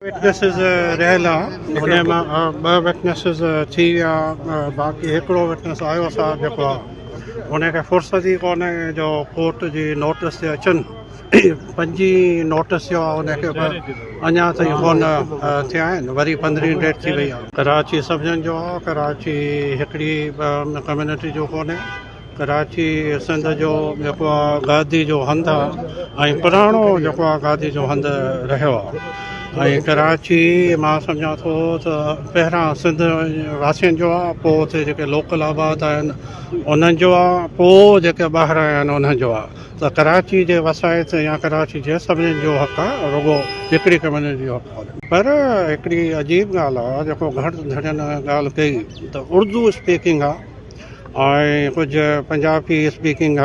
Witnesses رهيل آ انهي مان ٻه وٽنيسز ٿي ويا باقي هڪڙو وٽنيس آيو اسا جيڪو آ انهي کي فرصت ئي ڪونهي جو ڪورٽ جي نوٽس تي اچن پنجي نوٽس جو آ انهي کي به اڃا تائين ڪونه ٿيا آهن وري پندرهين ڊيٽ ٿي وئي آ ڪراچي سڀنن جو آ ڪراچي هڪڙي ڪميونٽي جو ڪونهي. ڪراچي سنڌ جو جيڪو آ گادي جو هنڌ آ ۽ پراڻو جيڪو آ گادي جو هنڌ رهيو آ ۽ ڪراچي مان سمجهان ٿو ته پهريان سنڌ واسين جو آ پو اتي جيڪي لوڪل آباد آهن انهن جو آ پو جيڪي ٻاهران آيا آهن انهن جو آ ته ڪراچي جي وسائت يا ڪراچي جي سڀني جو حق آ رڳو هڪڙي ڪميونٽي جو حق ڪونهي پر هڪڙي عجيب ڳالهه آ جيڪو گهڻ ڌڻين ڳالهه ڪئي ته اردو اسپيڪنگ آ ۽ ڪجهه پنجابي اسپيڪنگ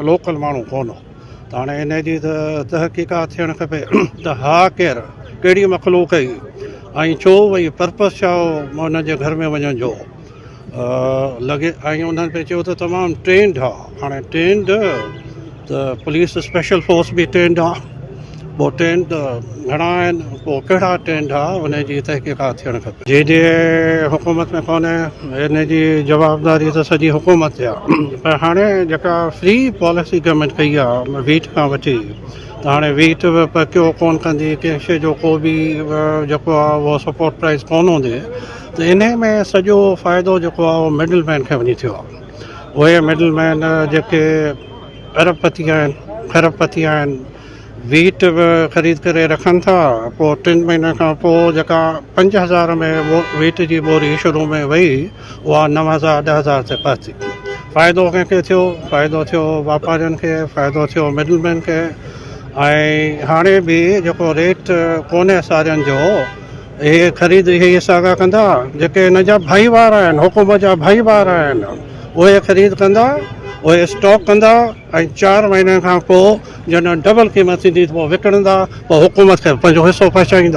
لوڪل ماڻهو ڪون هو ته هاڻي ان جي ته تحقيقات ٿيڻ کپي ته ها ڪير ڪهڙي مخلوق هئي ۽ ڇو هئي پرپس ڇا هو ان جي گهر ۾ وڃڻ جو لڳي ۽ انهن پئي چيو ته تمام ٽرينڊ هئا هاڻي ٽرينڊ ته پوليس اسپيشل فورس به ٽرينڊ آ پو ٽرينڊ گهڻا آهن پو ڪهڙا ٽرينڊ آ ان جي تحقيقات ٿيڻ کپي جي جي حڪومت ۾ ڪونه ان جي جوابداري ته سڄي حڪومت تي آ پر هاڻي جيڪا فري پاليسي گورنمينٽ ڪئي آ ويٽ کان وٺي ته هاڻي ويٽ به پرڪيو ڪون ڪندي ڪنهن شي جو ڪو به جيڪو آ اهو سپورٽ پرائز ڪون هوندي ته انهي ۾ سڄو فائدو جيڪو آ اهو مڊل مين کي وڃي ٿيو آ اهي مڊل مين جيڪي ارب پتي آهن کرب پتي آهن ويٽ به خريد ڪري رکن ٿا پوء ٽن مهينن کان پوء جيڪا پنج هزار ۾ ويٽ جي ٻوري شروع ۾ وئي اها نو هزار ڏهه هزار تي پهتي فائدو ڪنهن کي ٿيو فائدو ٿيو واپارين کي فائدو ٿيو مڊل مين کي ۽ هاڻي به جيڪو ريٽ ڪونهي سارين جو هي خريد اهي ئي ساڳا ڪندا جيڪي هن جا ڀائيوار آهن، حڪومت جا ڀائيوار آهن، اهي خريد ڪندا، اهي اسٽاڪ ڪندا ۽ چار مهينن کان پوء جڏهن ڊبل قيمت ٿيندي ته پوء وڪڻندا، پوء حڪومت کي پنهنجو حصو پهچائيندا.